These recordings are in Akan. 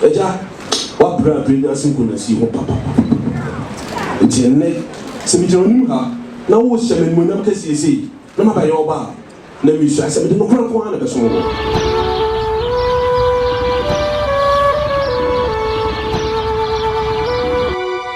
Agya, woabrɛ abrɛ wiase nkonyasie ho papapapapa. Enti ɛnnɛ, sɛ migyina w'anim ha, na worehyɛ me animuonyam kɛseɛ sei, na mabɛyɛ wo ba a, na meresuae sɛ mede nokorɛ nko ara na ɛbɛsom wo.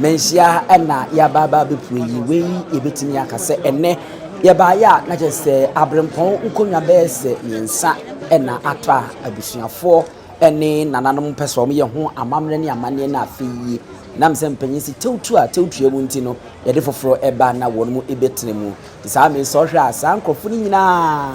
Manhyia ha na yɛaba aba abɛpue yi, wei yɛbɛtumi aka sɛ ɛnɛ yɛbaeɛ a na kyerɛ sɛ aberempɔn nkonnwa bɛyɛ sɛ mmiɛnsa na atɔ a abusuafoɔ ne nananom pɛ sɛ wɔyɛ ho amammerɛ ne amanneɛ no afei yi nam sɛ mpanyin si tewtu a tewtua mu nti no yɛde foforɔ ɛba na wɔn mu ebɛtena mu nti saa mmiri sɛ ɔhwɛ a saa nkurɔfoɔ no nyinaa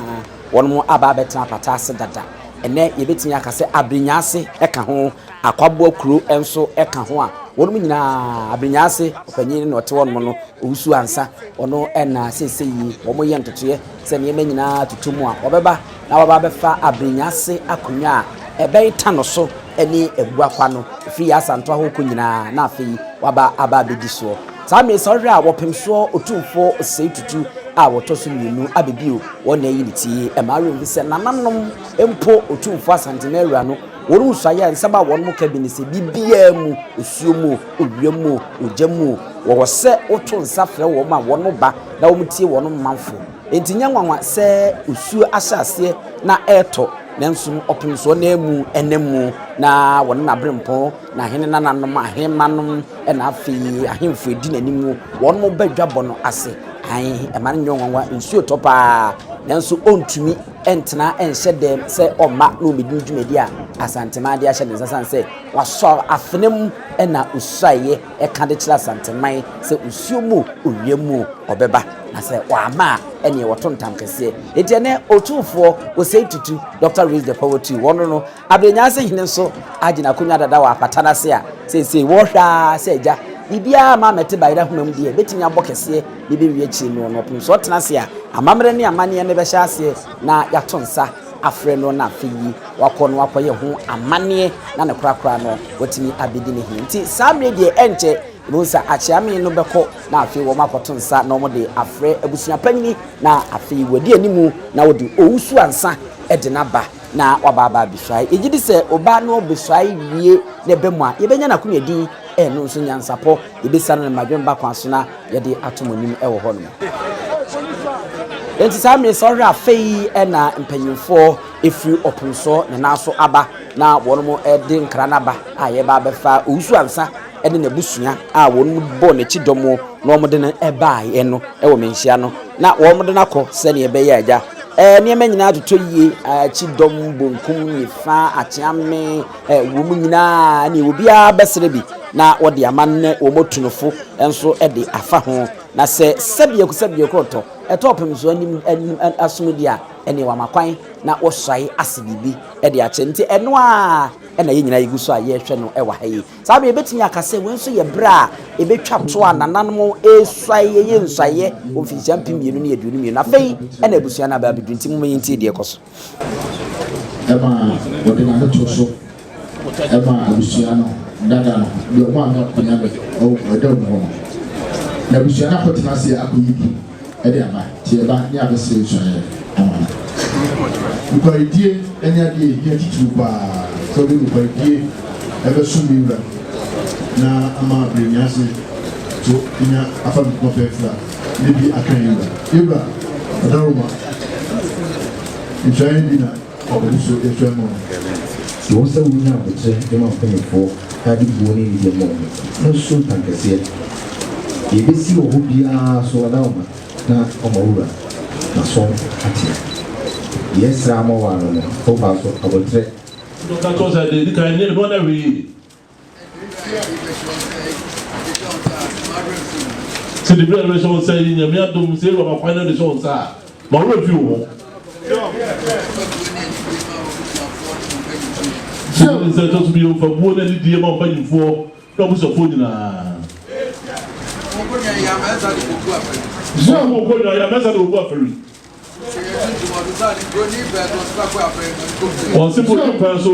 wɔn mu aba abɛtena apata ase dada ɛnɛ yɛbɛtumi aka sɛ abenyaase ɛka ho Akwaboa kuro nso ka ho a wɔnom nyinaa Aberenyaase ɔpanyin na ɔte hɔnom no, Owusu Ansa, ɔno na seisei yi wɔyɛ ntotoeɛ sɛ nneɛma nyinaa tutu mu a wɔbɛba na wɔaba abɛfa Aberenyaase akonnwa a ɛbɛn Tano so ne Aguakwa no, ɛfiri yɛ Asantoa hɔ rekɔ nyinaa na afei wɔaba aba abɛdi soɔ. Saa mmerɛ yi sɛ wohwɛ a wɔpem soɔ Otumfoɔ Osei Tutu a wɔtɔ so mmienu aba bio, wɔn na ayi ne ti. Ɛmma were nhu sɛ nananom mpo Otumfoɔ Asantehene Awura no, Wɔn suae a nsɛm a wɔnom ka bi ne sɛ, Biribiara mu, osuo mu o, owia mu o, ogya mu o, wɔwɔ sɛ woto nsa frɛ wɔn ma wɔba na wɔtie wɔn manfo. Enti nyɛ nwanwa sɛ osuo ahyɛ aseɛ na ɛretɔ, nanso no ɔpensoɔ no ara mu nam mu, na wɔne n'aberempɔn, n'ahene nananom, ahemmanom, ɛnna afei ahemfo a ɛdi n'anim no, wɔba dwabɔ no ase. Aane, mma no nyɛ wo nwanwa, nsuo tɔ paa, nanso ɔntumi. ntena nhyɛ dɛm sɛ ɔmma na ɔmmɛdi ne dwumadi a Asanteman de ahyɛ ne nsa sane sɛ wasɔ afena mu na ɔsuaeɛ ɛka de kyerɛ Asanteman sɛ osuo mu owia mu ɔbɛba na sɛ ɔama a ɛneɛ wɔto ntam kɛseɛ. Enti ɛnɛ Otumfoɔ Osei Tutu, Doctor Reads the Poetry, wɔno no Aber Nyansa Hene so agye n'akonnwa dada wɔ apata no ase a, seesei wɔrehwɛ ara sɛ agya, biribiara mma ammɛte Bayerahoma mu deɛ, bɛtumi abɔ kɛseɛ de bɛwie akyire no. Na ɔpem sɛ ɔtena ase a, amammerɛ ne amanneɛ no bɛhyɛ aseɛ na yɛato nsa afrɛ no na afei yi wakɔ na wakɔyɛ ho amanneɛ na ne korakora no watumi abɛdi ne hene. Nti saa mmerɛ deɛ ɛnkyɛ yɛbɛhu sɛ akyeame no bɛkɔ na afei wɔn akɔto nsa na wɔde afrɛ abusua panyini na afei wadi animu na wɔde owusu ansa de no aba. Na waba aba abesuae. Yɛgye di sɛ ɔbaa na ɔbesuae wie na ɛba mu a, yɛbɛnya no akonnwa din, ɛno nso nyansapɔ. Yɛbɛsua no ne mmadwemma akwan so na yɛde ato mo anim wɔ hɔnom. Enti saa mmere sɛ ɔhwɛ afei na mpanyimfoɔ firi ɔpono so ne nan so aba na wɔnom de nkra no aba a yɛreba abɛfa owusu ansa ne n'abusua a wɔbɔɔ n'akyi dɔm na wɔde no baeɛ no wɔ me nhyia no, na wɔde no akɔ sɛdeɛ ɛbɛyɛ a agya eh, nneɛma nyinaa atotɔ yie, akyi dɔm bonkum, nifa, akyeame, eh, wɔn nyinaa ne obiara bɛsrɛ bi na wɔde ama ne wɔn otunofo nso de afa ho na sɛ sɛdeɛ sɛdeɛ korɔtɔ ɛtɔ ɔpem so anim anim asom deɛ a ɛne wɔama kwan na wɔsuae ase biribi de akyɛ nti ɛno a ɛna yɛn nyinaa yɛgu so a yɛrehwɛ no ɛwɔ ha yi Saa bere yi, yebetumi aka sɛ wei nso yɛ bere a ebetwa to a nananom resuae reyɛ nsuaeɛ wɔ mfinhyia mpem mmienu ne aduonu mmienu. Afei na abusua no aba abedu, enti momma yentie deɛ ɛkɔ so. Ɛma wɔde n'ano to so ma abusua no dada no, deɛ wɔn a wɔn akɔnya me wɔ ɛda mu hɔ no. Na abusua no akɔtena ase akɔyi bi. de aba, teɛba ne abɛsɛe nsuaeɛ ama no. Nokwaredie ne adeɛ a ɛhia titiriw pa ara sɛ wode nokwaredie bɛsom me Wura na ama abrɛ nyɛ ase so nya afa me poma fɛɛfira ne bi aka yɛn Wura. Yɛn Wura, Ɔdaworo ma nsuaeɛ bi na. Ɔpɛ so atwa mu no, ɛwɔ sɛ wonya aboterɛ de ma mpanimfoɔ a ɛde buo ne anigyeɛ ma wɔn. Na Sultan kɛseɛ, deɛ ɛbɛsi wɔ hɔ biara so ɔda wo ma na ɔma wo wura n'aso ateɛ. Deɛ ɛsra ama wo ara no, fa wo ba so aboterɛ. Ɔka kyerɛ wo sɛ, Deɛ ɛdi kan, nyɛ ne ho ɔdawee. Sɛ de biribiara bɛhyɛ wo nsa yi, Nyame adom, sɛ Yehowa ma kwan na ɔde hyɛ wo nsa a, ma wo werɛ mfi wo ho. Hyɛ ne nsa ɛtɔ so bio, fa buo ne anidie ma wo mpanyimfoɔ ne w'abusuafoɔ nyinaa. Hyɛ wo nkonnwa, yɛ amɛsa de wɔbu afari. Wɔn sefo di kwan so.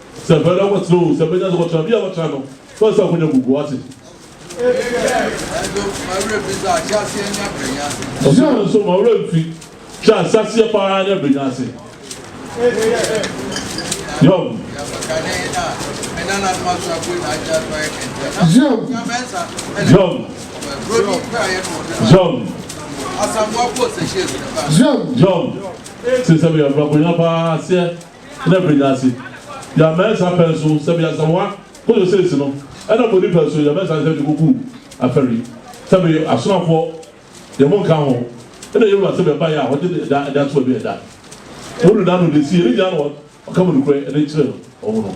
Sɛ mfɛre na wɔbɛtena oo, sɛ mmɛnya sɛ wɔtra bia wɔtra no, fɛre sɛ akonya gugu, wate. Ɔsɛ nso ma werɛ mfi hwɛ asaseɛ paa ne abrɛnya ase. Yob. Yob. Yob. Yob. Yob. Sɛ sɛ bɛyɛ akonya paa aseɛ na ɛbɛnya ase. Yɛ ama ɛsa pɛn so sɛ bia sɛ wa kɔ yɔ sɛsi no ɛna bɔ nipa so yɛ mɛsa sɛ de kɔ kuu afɛri sɛ bɛ yɔ asonafoɔ yɛ mo nka ho ɛna yɛ wura sɛ bɛ ba yɛ a wɔgye de ɛda ɛda so ɛbi ɛda. Wɔn nuna no de si yɛ ne nyina na ɔka mo nukurɛ ɛde kyerɛ wɔn no.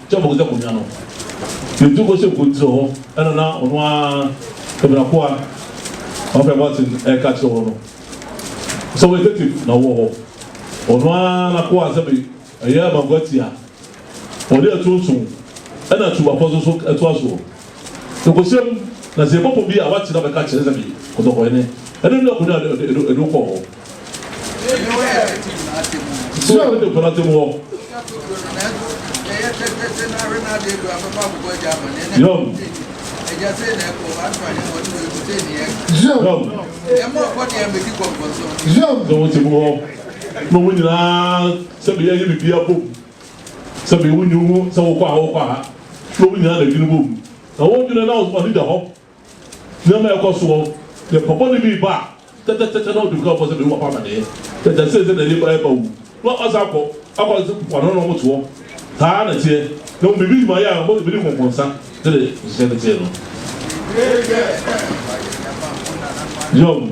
Kyɛ bohu sɛ konwa no yɛ tu kɔhyɛ mpontire hɔ, ɛna na ɔno ara Amenakoa Kwabena Boateng reka kyerɛ wɔn no. Sɛ wɔyɛ tetem na wɔwɔ hɔ, ɔno ara n'akoa sɛ me ɛyɛ Amankwaa ti a ɔde atu nson ɛna tu bapɔ so so toa soɔ. Sɛ kɔhyɛ mu na sɛ yɛbɔ pɔ bi a wakyena bɛka kyerɛ sɛ me kɔtɔkɔhene ɛna nua konwa a ɛde wo kɔɔ hɔ. Sɛ ɔde ne kɔnɔ te mu hɔ. Yɔm. Yɔm. Sɛ wɔte mu hɔ na wɔn nyinaa sɛ bɛyɛ yɛ bibi abom sɛ bɛyɛ wo nyi wo sɛ wokɔ a wokɔ a na wɔn nyinaa na adwene bom na wɔn dwene na ɔne da hɔ. Nneɛma a ɛkɔ soɔ yɛ papa no bi ba a, tɛtɛtɛtɛ na ɔtumi ka wo pɔ sɛ me ne w'akɔ amaneɛ, tɛtɛ sei sɛ na ɛde ba ɛba wu na w'akɔ san akɔ akɔ sɛ mpoano no na wɔn toɔ, saa na ɛteɛ na wɔn biribi ma yɛ a wɔtumi de nkɔnkɔnsa sɛdeɛ nhyehyɛɛ no teɛ no. Yom.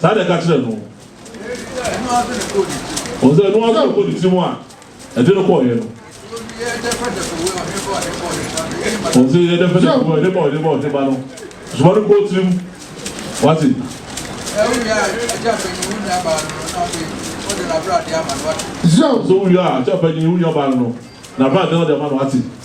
Saa na ɛka kyerɛɛ no. Wɔn sɛ ɛno ara nso na ɛkɔɔ ne tirim a ɛde no kɔeɛ no. Wɔn sɛ yɛ dɛfɛdɛfɛ wɔ ɛde ba ɔde ba ɔde ba no. Soma no kɔɔ tirim. Wate. Sɛ wowie a, kyɛ ɔpanyin wo nuabaa no no n'abrade na ɔde ama no. Wate.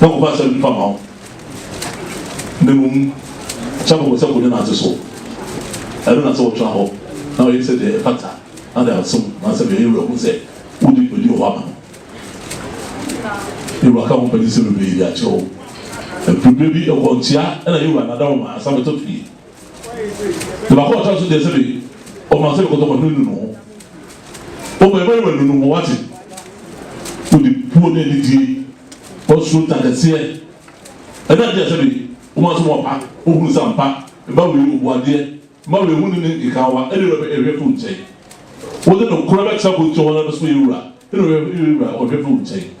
na wɔmfa nhyɛ nnipa mma wo, na mmom hyɛ kɔkɔ sɛ kɔnya N'ase so. Ɛno na sɛ wotra hɔ na woyɛ sɛdeɛ ɛfata na de asom na sɛdeɛ yɛn Wura hu sɛ wodi dwumadi wɔ hɔ ama no. Yɛn Wura ka wo ho pɛ te sɛ bebree de akyerɛ wo. Mfiriberɛ bi, nkwanhyia na yɛn Wura nada wo ma asafo tɔ fie. Te baako a ɔtɔa so deɛ sɛbe ɔno asɛbe kɔtɔkɔ no anu ne ho. Ɔma ɛma ne w'anu no ho wate. Wode puo ne anidie ɔsoro ntakɛseɛ ɛne adeɛ a sɛbe ɔma so wapa ɔhunu sɛ ampa mma wei ɔbuadeɛ mma wei huni ne nkekawa ɛne wɛbɛ ɛhwɛ firi wo nkyɛn. Wode nokora bɛtra bonkyɛ hɔ na bɛso yɛ wura ɛne wɛbɛ ɛhwɛ firi wo nkyɛn.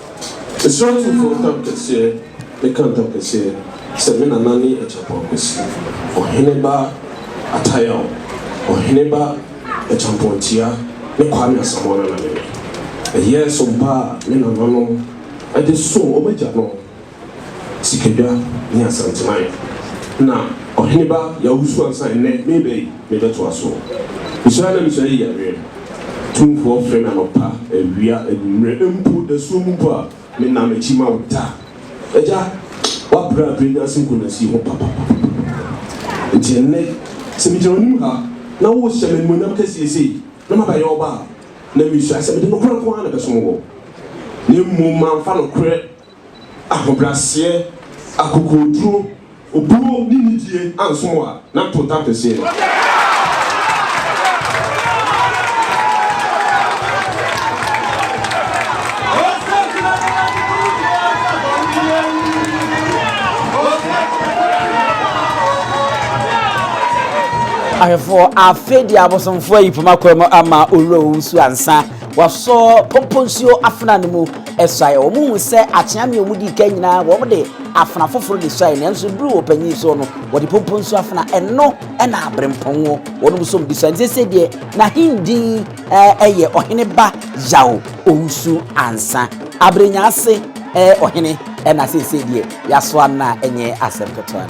Asuratefoɔ ntam kɛseɛ ka ntam kɛseɛ sɛ, Me nana ne Acheampong Akwasi, Ɔhene ba Atayao, Ɔhene ba Acheampong Atua ne Kwame Asamoah Nana ne me. Ɛyɛɛ so mpo a me nananom de soo wɔn agyanom. Sikadwa ne Asanteman na Ɔheneba Yawusu ansa nnɛ mereba yi mebɛtoa so. Mesɔre na mesɔre yi yareɛ tumfoɔ frɛ me anɔpa, awia, anwummerɛ mpo dasuo mu mpo a menna m'akyi ma wo da. Agya w'abrɛ abrɛ nyansa nkunasie ho papapapapapapa nti ɛnnɛ sɛ megyina w'anim ha na worehyɛ me animuonyam kɛseɛ sei na mabɛyɛ ɔbaa na mesua sɛ mede nokorɛ nko ara na ɛbɛsom woɔ na mmom mamfa nokorɛ ahobrɛaseɛ, akokoɔduro, obuo ne nidie anso mo a, na ntontan kɛseɛ no. ahwɛfoɔ afei deɛ abosomfoɔ ayi poma kwan mu ama owura owusu ansa wasɔ pɔmpɔ nsuo afena no mu suae. Wɔhuu sɛ akyea mmea a wɔdii kan nyinaa wɔde afena foforo de suae, nanso bere wɔ panyin so no, wɔde pompon so afena. Ɛno na aberempɔn wɔ. Wɔnom nso wɔde suae. Enti seesei deɛ n'ahendin yɛ Ɔhene Ba Yao Owusu Ansa, Abere Nyaase Ɔhene, na seesei deɛ yɛasoa no a ɛnyɛ asɛm ketewa.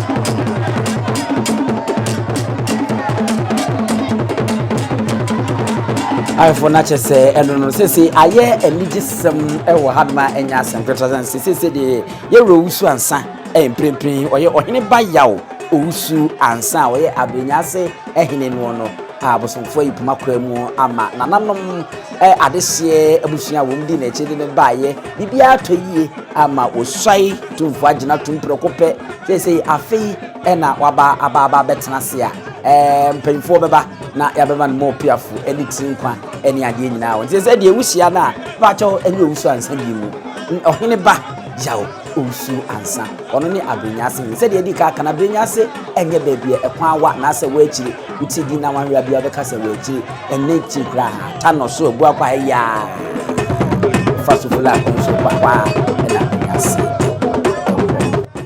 ayɛfo no akyɛ sɛ ɛno no sese ayɛ anigye sɛm wɔ ha noma ɛnyɛ asɛm ketewa sɛ sɛ sese deɛ yɛwura owusu ansa ɛyɛ mprempren ɔyɛ ɔhene ba yaw owusu ansa a ɔyɛ abrenya ase ɛhene noɔ no a abosomfoɔ yi poma kora mu ama nananom ɛ adehyeɛ abusua wɔn di n'akyi de no baayɛ biribiara tɔ yie ama wɔsuae Tumfoɔ agyina tum prɛko pɛ seesei afei ɛna waba aba aba abɛtena ase a ɛɛ mpanyinfoɔ bɛba na yɛabɛma no mɔɔ piafo ɛne tiri nkwa ɛne adeɛ nyinaa wɔn sɛ sɛ deɛ wuhyia no a baakyɛw ɛnyɛ owusu ansa bi mu ɔhene ba yaw owusu ansa ɔno ne abenyase sɛdeɛ ɛdi ka kana abenyase Ɛnyɛ baabi a ɛkwan wɔ anaasɛ wɔ akyiri, wo ti di na wanwea biara bɛka sɛ wɔ akyiri, ɛnnɛ nti koraa ha, tanɔ so abu akɔ ha yiaa, fa so fula akɔ nso kɔ hɔ a, ɛna ɛyɛ aseɛ.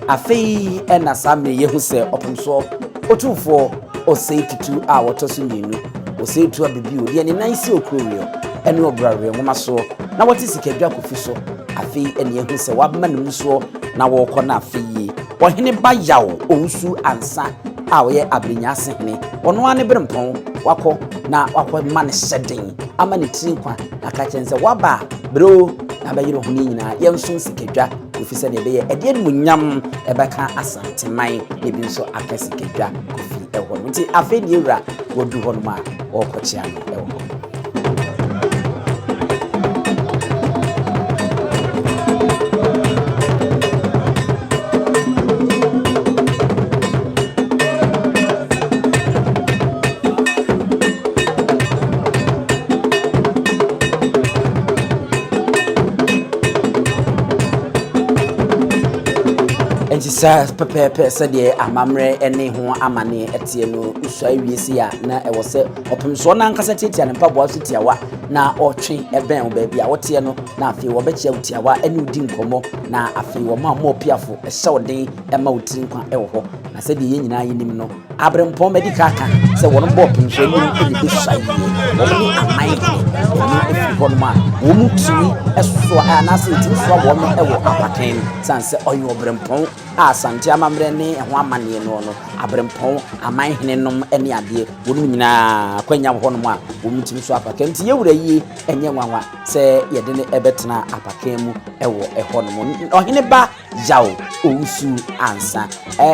Afei ɛna saa mmerɛ yɛhu sɛ ɔpomsoɔ otumfoɔ ɔsɛe tutu a wɔtɔ so mmienu, ɔsɛe tu abibio deɛ ne nan si okuroweɛ ɛne ɔbraweɛ nwoma soɔ na wɔte sikadwa kofi so, afei ɛna yɛhu sɛ wɔabema ne mu soɔ na wɔrekɔ no afei. Ɔhene ba Yaw Owusu Ansa a ɔyɛ Abenyaase hene, ɔno ara ne berempɔn, wakɔ na wakɔma no hyɛden ama ne tiri nkwa na ka kyerɛ no sɛ, Woaba a, brɛ o na bɛyere wo ho no nyinaa, yɛnsom Sikadwa Kofi sɛdeɛ ɛbɛyɛ ɛde animuonyam ɛbɛka Asanteman na ebi nso aka Sikadwa Kofi wɔ hɔ nom. Nti afei deɛ wura, wadu hɔ nom a, wɔrekɔkyea no wɔ hɔ. saa pɛpɛɛpɛ sɛdeɛ amammerɛ ne ho amane teɛ no wosua awie sei a na ɛwɔ sɛ Ɔpem sɛ ɔno ankasa tiatia ne mpaboa so tiawa na ɔtwe bɛn wo baabi a woteɛ no, na afei wɔbɛkyea wo tiawa ne wo di nkɔmmɔ, na afei wɔma mmɔɔpiafo hyɛ wo den ma wo tiri nkwa wɔ hɔ. Na sɛdeɛ yɛn nyinaa yɛnim no, aberempɔn madi ka aka sɛ wɔn bɔ ɔpem so anim na ɛbɛsua yie. Wɔn ne aman hene, wɔn firi hɔnom a wɔn tumi soa anaasɛ ɛtumi soa wɔn wɔ apakan mu. Sane sɛ ɔyɛ ɔberempɔn a Asante amammerɛ ne ɛho amanneɛ noɔ no, aberempɔn, aman hene nom ne adeɛ. Wɔnom nyinaa akwanya wɔ hɔnom a wɔtumi so apakan, nti yɛn wura yi nyɛ nwanwa sɛ yɛde no bɛtena apakan mu wɔ hɔnom. Ɔhene ba Yao Owusu Ansa,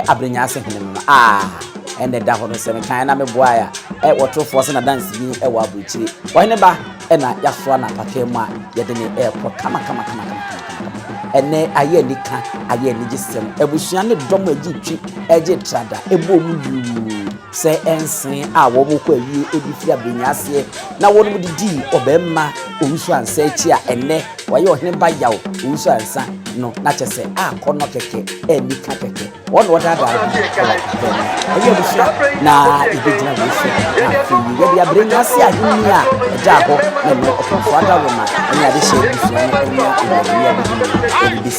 Aberenyaase hene no no, ah! ɛna ɛda hɔ no sɛ mekan na meboae a wɔtorofoɔ sɛ nadanseni wɔ aburokyire ɔhene ba ɛna yɛasoa no apakee mu a yɛde ne ɛrekɔ kamakamakamakamakamakamakama ɛnɛ ayɛ anika ayɛ anigyesɛm abusua ne dɔm agye twi agye trada ɛbɔ mu yuu Sɛ ɛnsee a wɔkɔ awie de firi abrɛnyaseɛ na wɔnom de dii ɔbarima Owusu Ansa akyi a ɛnnɛ wayɛ ɔhene ba Yaw Owusu Ansa no na kyɛ sɛ akɔnnɔ kɛkɛ anni ka kɛkɛ. Wɔn na wɔdaadaa ne ho wɔ abrɛ no ɛyɛ no so na ɛbɛgyina wei so na afei yi yɛde abrɛnyaseɛ ahennie a ɛdaa hɔ na ɛnnɛ ɔpemfoɔ adaworoma ne adehyeɛ abusua no anya mmerɛwyɛ ademudeɛ no bɛsi.